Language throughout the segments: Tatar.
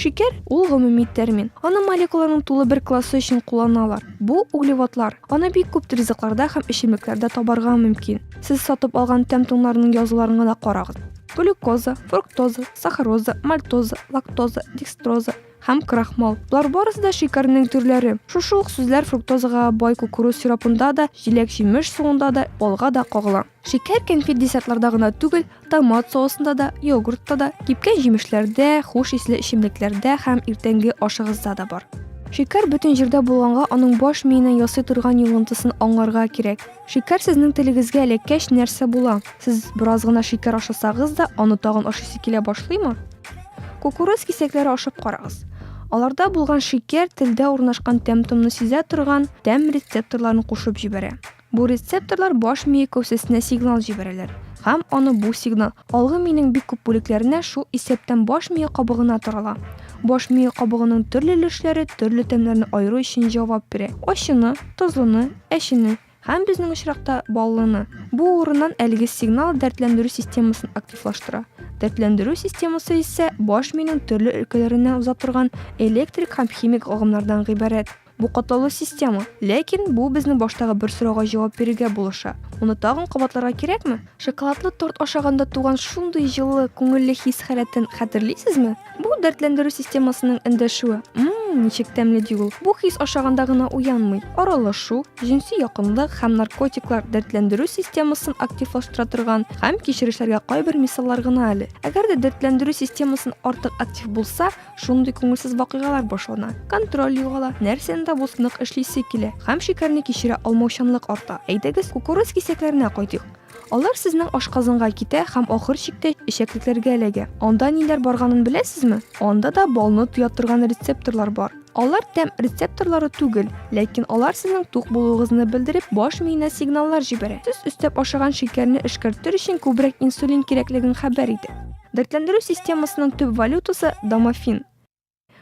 Шикәр, ул гомуми термин. Аны молекуланың тулы бер классы өчен кулланалар. Бу, углеводлар. Аны бик күп ризыкларда һәм эчемлекләрдә табарга мөмкин. Сез сатып алган тәм-томнарның язуларын гына карагыз. Глюкоза, фруктоза, сахароза, мальтоза, лактоза, декстроза һәм крахмал. Болар барысы да шикәрнең төрләре. Шушы ук сүзләр фруктозага бай кукуруз сиропында да, җиләк-җимеш суында да, балга да кагыла. Шикәр кәнфит десертларда гына түгел, томат соусында да, йогуртта да, кипкән җимешләрдә, хуш исле эчемлекләрдә һәм иртәнге ашыгызда да бар. Шикәр бөтен җирдә булганга, аның баш миенә ясый торган йогынтысын аңларга кирәк. Шикәр сезнең телегезгә эләккәч, нәрсә була? Сез бераз гына шикәр ашасагыз да, аны тагын ашыйсы килә башлыймы? Кукуруз кисәкләре ашап карагыз. Аларда булган шикәр телдә урнашкан тәм-томны сизә торган тәм рецепторларын кушып җибәрә. Бу рецепторлар баш мие кәүсәсенә сигнал җибәрәләр һәм аны бу сигнал алгы миенең бик күп бүлекләренә, шул исәптән баш мие кабыгына тарала. Баш мие кабыгының төрле өлешләре төрле тәмнәрне аеру өчен җавап бирә, ачыны, тозлыны, әчене һәм, безнең очракта, баллыны. Бу урыннан әлеге сигнал дәртләндерү системасын активлаштыра. Дәртләндерү системасы исә баш миенең төрле өлкәләреннән уза торган электрик һәм химик агымнардан гыйбарәт. Бу катлаулы система. Ләкин бу безнең баштагы бер сорауга җавап бирергә булыша. Моны тагын кабатларга кирәкме? Шоколадлы торт ашаганда туган шундый җылы, күңелле хис-халәтен хәтерлисезме? Бу, дәртләндерү системасының эндәшүе. Мм, ничек тәмле ди ул. Бу хис ашаганда гына уянмый. Аралашу, җенси якынлык һәм наркотиклар дәртләндерү системасын активлаштыра торган һәм кичерешләргә кайбер мисаллар гына әле. Әгәр дә дәртләндерү системасын артык актив булса, Шундый күңелсез вакыйгалар башлана. Контроль югала, нәрсәне дә булсын нык эшлисе килә һәм шикәрне кичерә алмаучанлык арта. Әйдәгез, кукуруз кисәкләренә кайтыйк. Алар сезнең ашказанга китә һәм ахыр чиктә эчәклекләргә эләгә. Анда ниләр барганын беләсезме? Анда да балны тоя торган рецепторлар бар. Алар тәм рецепторлары түгел, ләкин алар сезнең тук булуыгызны белдереп, баш миенә сигналлар җибәрә. Сез өстәп ашаган шикәрне эшкәртер өчен күбрәк инсулин кирәклеген хәбәр итә. Дәртләндерү системасының төп валютасы домофин.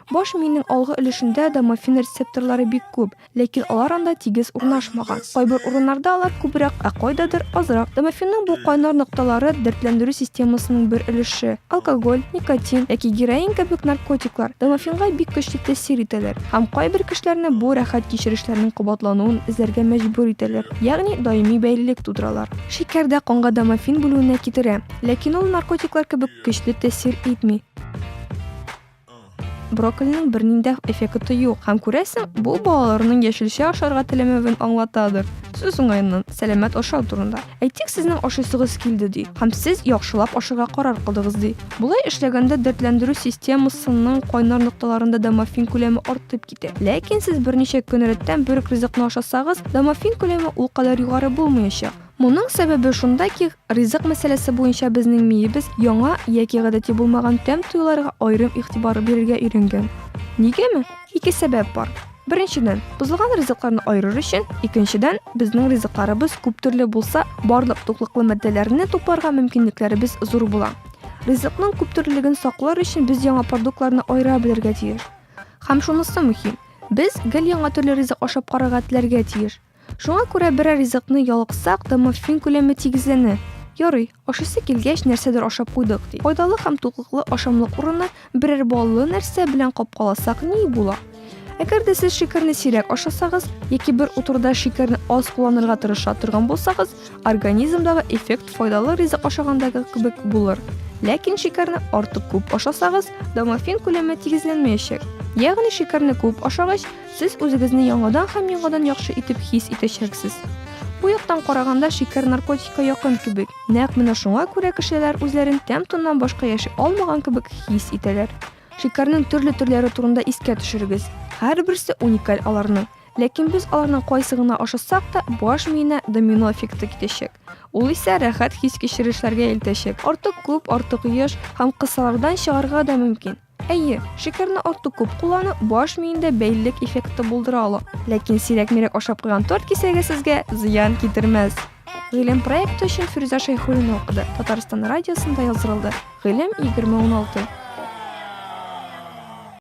Баш миенең алгы өлешендә домофин рецепторлары бик күп, ләкин алар анда тигез урнашмаган. Кайбер урыннарда алар күбрәк, ә кайдадыр азрак. Домофинның бу кайнар нокталары дәртләндерү системасының бер өлеше. Алкоголь, никотин яки героин кебек наркотиклар домофинга бик көчле тәэсир итәләр һәм кайбер кешеләрне бу рәхәт кичерешләрнең кабатлануын эзләргә мәҗбүр итәләр, ягъни даими бәйлелек тудыралар. Шикәр дә канга домофин бүлүенә китерә. Ләкин ул наркотиклар кебек көчле тәэсир итми. Брокколиның бернинди эффекты юк, һәм күрәсең, бу балаларның яшелчә ашарга теләмәвен аңлатадыр. Сүз уңаеннан, сәламәт ашау турында. Әйтик, сезнең ашыйсыгыз килде ди, һәм сез яхшылап ашарга карар кылдыгыз ди. Болай эшләгәндә дәртләндерү системасының кайнар нокталарында домофин күләме артып китә. Ләкин сез берничә көн рәттән бер үк ризыкны ашасагыз, домофин күләме ул кадәр югары булмаячак. Моның сәбәбе шунда ки, Ризык мәсьәләсе буенча безнең миебез яңа яки гадәти булмаган тәм-тоюларга аерым игътибар бирергә өйрәнгән. Нигәме? Ике сәбәп бар. Беренчедән, бозылган ризыкларны аерыр өчен, икенчедән, безнең ризыкларыбыз күп төрле булса, барлык туклыклы матдәләрне тупларга мөмкинлекләребез зур була. Ризыкның күптөрлелеген саклар өчен без яңа продуктларны аера белергә тиеш. Һәм шунысы мөһим, без гел яңа төрле ризык ашап карарга теләргә тиеш. Шуңа күрә берәр ризыкны ялыксак та морфин күләме тигезләнә. Ярый, ашыйсы килгәч, нәрсәдер ашап куйдык ди. Файдалы һәм туклыклы ашамлык урынына берәр баллы нәрсә белән капкаласак ни була? Әгәр дә сез шикәрне сирәк ашасагыз яки бер утыруда шикәрне аз кулланырга тырыша торган булсагыз, организмдагы эффект файдалы ризык ашагандагы кебек булыр. Ләкин шикәрне артык күп ашасагыз, домофин күләме тигезләнмәячәк. Ягъни шикәрне күп ашагач, Сез үзегезне яңадан һәм яңадан яхшы итеп хис итәчәксез. Бу яктан караганда шикәр наркотикка якын кебек. Нәкъ менә шуңа күрә кешеләр үзләрен тәм-тоннан башка яши алмаган кебек хис итәләр. Шикәрнең төрле төрләре турында искә төшерегез. Һәрберсе уникаль аларның. Ләкин без аларның кайсы гына ашасак та, баш миенә домино эффекты китәчәк. Ул исә рәхәт хис кичерешләргә илтәчәк. Артык күп, артык еш һәм кысалардан чыгарга да мөмкин. Әйе, шикәрне артык күп куллану баш миендә бәйлелек эффекты булдыра ала. Ләкин сирәк-мирәк ашап куйган торт кисәге сезгә зыян китермәс. Гыйлем проекты өчен Фирүзә Шәйхуллина укыды. Татарстан радиосында яздырылды. Гыйлем 2016.